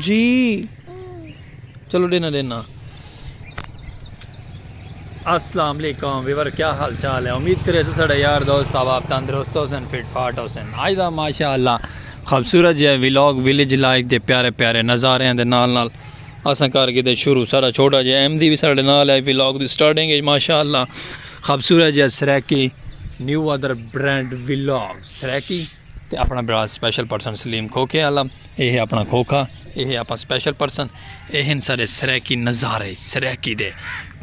جی چلو دینا دینا السلام علیکم ویور کیا حال چال ہے امید کرے سو سڑے یار دوست آپ تندرست ہو سن فٹ فاٹ ہو سن آج دا ماشاء اللہ خوبصورت جی ویلوگ ویلیج لائف دے پیارے پیارے نظارے ہیں دے نال نال اساں کر کے دے شروع سارا چھوٹا جی ایم دی بھی سارے نال ہے ویلوگ دی سٹارٹنگ ہے ماشاء اللہ خبصورت جا Saraiki new other brand vlog Saraiki تے اپنا بڑا اسپیشل پرسن سلیم کھوکھے والا اے ہے اپنا کھوکھا اے ہے اپنا اسپیشل پرسن اے ہیں سارے سریکی نظارے سریکی دے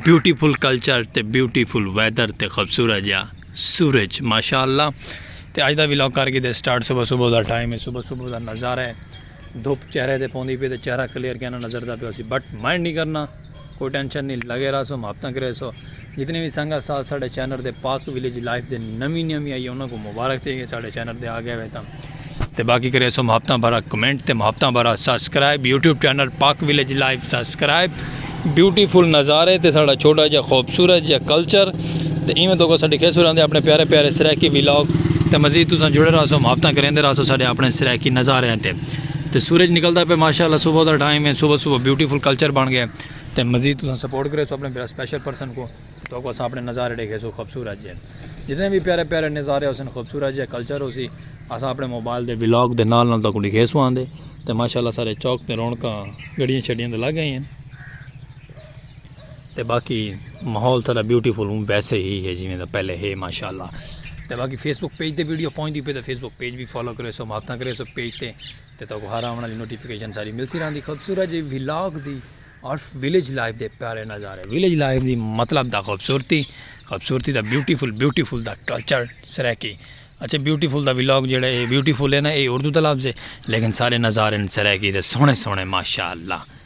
بیوٹیفل کلچر تے بیوٹیفل ویدر تے خبصورت جا سورج ماشاءاللہ تے اج دا ویلاگ کر کے دے سٹارٹ صبح صبح دا ٹائم ہے صبح صبح دا نظارہ ہے دھوپ چہرے تے پوندی پی تے چہرہ کلیئر کینا نظر دا پی اسی بٹ مائنڈ نہیں کرنا کوئی ٹینشن نہیں لگے رہا سو محبتاں کرے سو جتنی بھی سنگا ساتھ ساڑھے چینر دے پاک ویلیج لائف دے نمی نمی آئی انہوں کو مبارک تھی گئے ساڑھے چینر دے آگے ہوئے تھا تے باقی کرے سو محبتاں بھرا کمنٹ تے محبتاں بھرا subscribe YouTube channel Pak village life subscribe beautiful نظارے تے ساڑھا چھوٹا جا خوبصورت جا کلچر تے ایویں تو کو ساڑھے کھیسو رہنے اپنے پیارے پیارے سرائیکی ویلاگ تے مزید تو ساں جڑے رہا سو محبتاں کریں دے رہا سو ساڑھے اپنے سرائیکی نظارے ہیں تے تے سورج نکلدا پے ماشاءاللہ صبح دا ٹائم ہے صبح صبح بیوٹیفل کلچر بن گئے تے مزید تساں سپورٹ کریسو اپنے پھر اسپیشل پرسن کو تو کو اساں اپنے نظارے ڈیکھے سو خوبصورت جے جتنے بھی پیارے پیارے نظارے ہو سن خوبصورت جے کلچر ہو سی اساں اپنے موبائل دے ولاگ دے نال نال تو کو ڈیکھے سو آندے تے ماشاءاللہ سارے چوک تے رونکاں گڑیاں چھڑیاں تے لگ گئے ہیں تے باقی ماحول تھا بیوٹی فل ہوں ویسے ہی ہے جی میں دا پہلے ہے ماشاءاللہ تے باقی فیس بک پیج تے ویڈیو پہنچ دی پہ تے فیس بک پیج بھی فالو کرے سو ماتاں کرے سو پیج تے تے تو ہر آونا لی نوٹیفیکیشن ساری مل سی راندی خوبصورت جی ویلاگ دی اور ویلیج لائف دے پیارے نظارے ویلیج لائف دی مطلب دا خوبصورتی خوبصورتی دا بیوٹی فل بیوٹی فل دا کلچر سریکی اچھا بیوٹی فل دا ویلاگ جڑا ہے بیوٹی فل ہے نا اے اردو دا لفظ ہے لیکن سارے نظارے سریکی دے سونے سونے ماشاءاللہ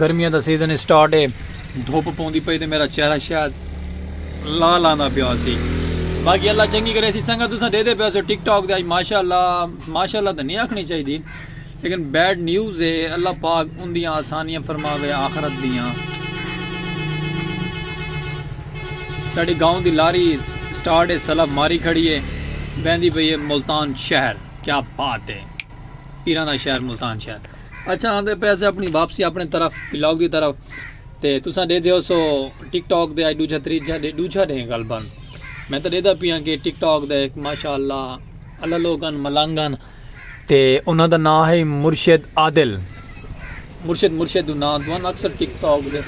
گرمیاں دا سیزن اسٹارٹ ہے دھوپ پوندی پئی تے میرا چہرہ شاید لال آندا پیا سی باقی اللہ چنگی کرے سی سنگا تساں دے دے پیا سو ٹک ٹاک دے آج ماشاءاللہ ماشاءاللہ تے نہیں آکھنی چاہی دی لیکن بیڈ نیوز ہے اللہ پاک ان دیاں آسانیاں فرماوے آخرت دیاں ساڑی گاؤں دی لاری سٹارٹ ہے سلب ماری کھڑی ہے بیندی پئی ہے ملتان شہر کیا بات ہے پیران دا شہر ملتان شہر اچھا آندے پے سے اپنی واپسی اپنے طرف بلاگ دی طرف تے تساں دے دیو سو ٹک ٹاک دے آئی دوجھا تریجھا دے دوجھا دے غلبا میں تو دے دا پیاں کہ ٹک ٹاک دے ایک ماشاء اللہ اللہ لوگن ملانگن تے انہاں دا نام ہے مرشد عادل مرشد مرشد دو نام دوان اکثر ٹک ٹاک دے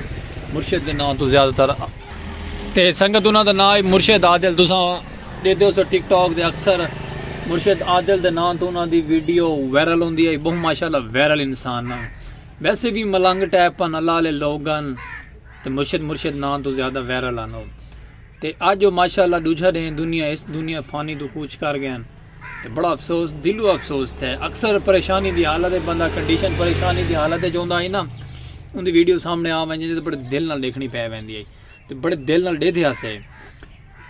مرشد دے نام تو زیادہ تر تے سنگت انہاں دا ناں ہے مرشد عادل تساں ڈیدھے ہوسو ٹک ٹاک دے اکثر مرشد عادل دے ناں توں انہاں دی ویڈیو وائرل ہوندی ہے بہوں ماشاءاللہ وائرل انسان ہن ویسے وی ملنگ ٹائپ ہن اللہ آلے لوگ ہن تے مرشد مرشد ناں توں زیادہ وائرل ہن او تے اج او ماشاءاللہ ڈوجھا ڈینھ دنیا اس دنیا فانی توں کوچ کر گئے ہن تے بڑا افسوس دلو افسوس تھے اکثر پریشانی دی حالت ہے بندہ کنڈیشن پریشانی دی حالت ہے جوندا ہی نا ان دی ویڈیو سامنے آ ونجے تے بڑے دل نال دیکھنی پے ویندی ہے تے بڑے دل نال ڈیدھے ہسے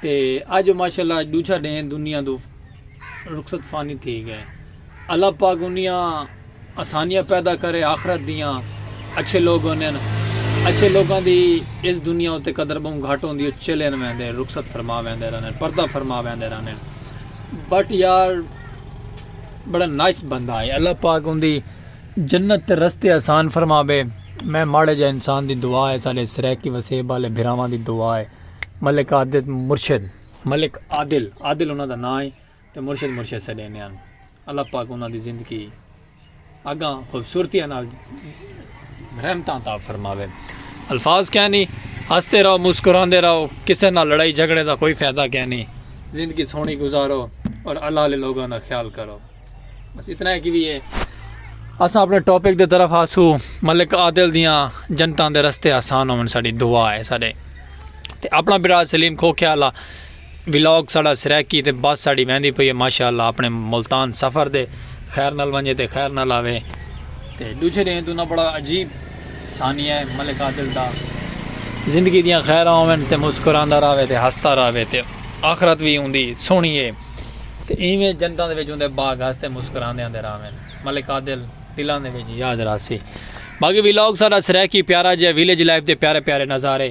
تے اج ماشاءاللہ اج دوجھا ڈے دنیا دو رخصت فانی تھی گئے اللہ پاک انیاں آسانیاں پیدا کرے آخرت دیاں اچھے لوگ ہوندن اچھے لوگاں دی اس دنیا اتے قدر بہوں گھٹ ہوندی او چلین ویندے رخصت فرما ویندے رہندن پردہ فرما ویندے رہندن بٹ یار بڑا نائس بندہ ہے اللہ پاک اوندی جنت تے رستے آسان فرماوے میں ماڑے جے انسان دی دعا ہے سارے سرائیکی وسیب والے بھراواں دی دعا ہے ملک عادل مرشد ملک عادل عادل انہاں دا نام ہے۔ تے مرشد مرشد سڈیندے ہن اللہ پاک انہاں دی زندگی اگاں خوبصورتی نال رحمتاں عطا فرماوے الفاظ کیا نہیں ہنستے رہو مسکراندے رہو کسے نال لڑائی جھگڑے دا کوئی فائدہ کیا نہیں زندگی سونی گزارو اور اللہ علیہ لوگوں کا خیال کرو بس اتنا ہے کہ بھی یہ اساں اپنے ٹاپک دے طرف آسو ملک عادل دیاں جنتاں دے رستے آسان ہون ساڑی دعا ہے ساڑے تے اپنا برا سلیم کھو خیال آ ولاگ ساڑا سرائیکی تے بس ساڑی ویندی پئی ہے ماشاءاللہ اپنے ملتان سفر دے خیر نال ونجے تے خیر نال آوے تے ڈوجھے ڈینہ توں نہ بڑا عجیب ثانیہ ہے ملک عادل دا زندگی دیاں خیراں ہوون تے مسکراندا راوے تے ہستا راوے تے آخرت وی اوندی سونی ہے تے ایویں جنتاں دے وچ اوندے باغ ہستے مسکراندے آندے راون ملک عادل دلاں دے وچ یاد راسی باقی ولاگ ساڑا سرائیکی پیارا جیا ویلیج لائف دے پیارے پیارے نظارے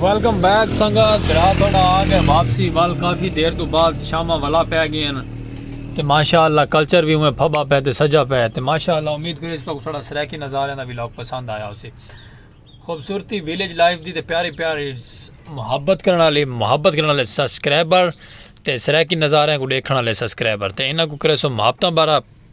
ویلکم بیک سنگت بھرا تھوڑا آ گئے واپسی وال کافی دیر تو بعد شامہ والا پہ گئے ہیں تے ماشاءاللہ کلچر بھی ہوئے پھبا پہ تے سجا پہ تے ماشاءاللہ امید کرے اس تو تھوڑا سریکی نظارے دا ویلوگ پسند آیا ہو سی خوبصورتی ویلیج لائف دی تے پیاری پیاری محبت کرنا والی محبت کرنا والے سبسکرائبر تے سریکی نظارے کو دیکھنا والے سبسکرائبر تے انہاں کو کرے سو محبتاں بارہ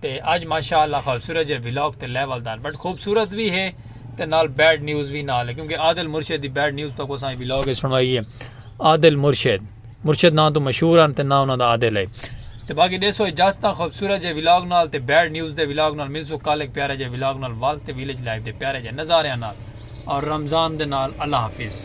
تے اج ماشاء اللہ خوبصورت جے ولاگ تے لیول دار بٹ خوبصورت وی ہے تے نال بیڈ نیوز وی نال ہے کیونکہ عادل مرشد دی بیڈ نیوز تو کو سائیں ولاگ ہے سنوائی ہے عادل مرشد مرشد نام تو مشہور ہیں تے نام انہاں دا عادل ہے تے باقی دیسو اجازت تاں خوبصورت جے ولاگ نال تے بیڈ نیوز دے ولاگ نال مل سو کال ایک پیارا جے ولاگ نال والد تے ویلیج لائف دے پیارے جے نظاریاں نال اور رمضان دے نال اللہ حافظ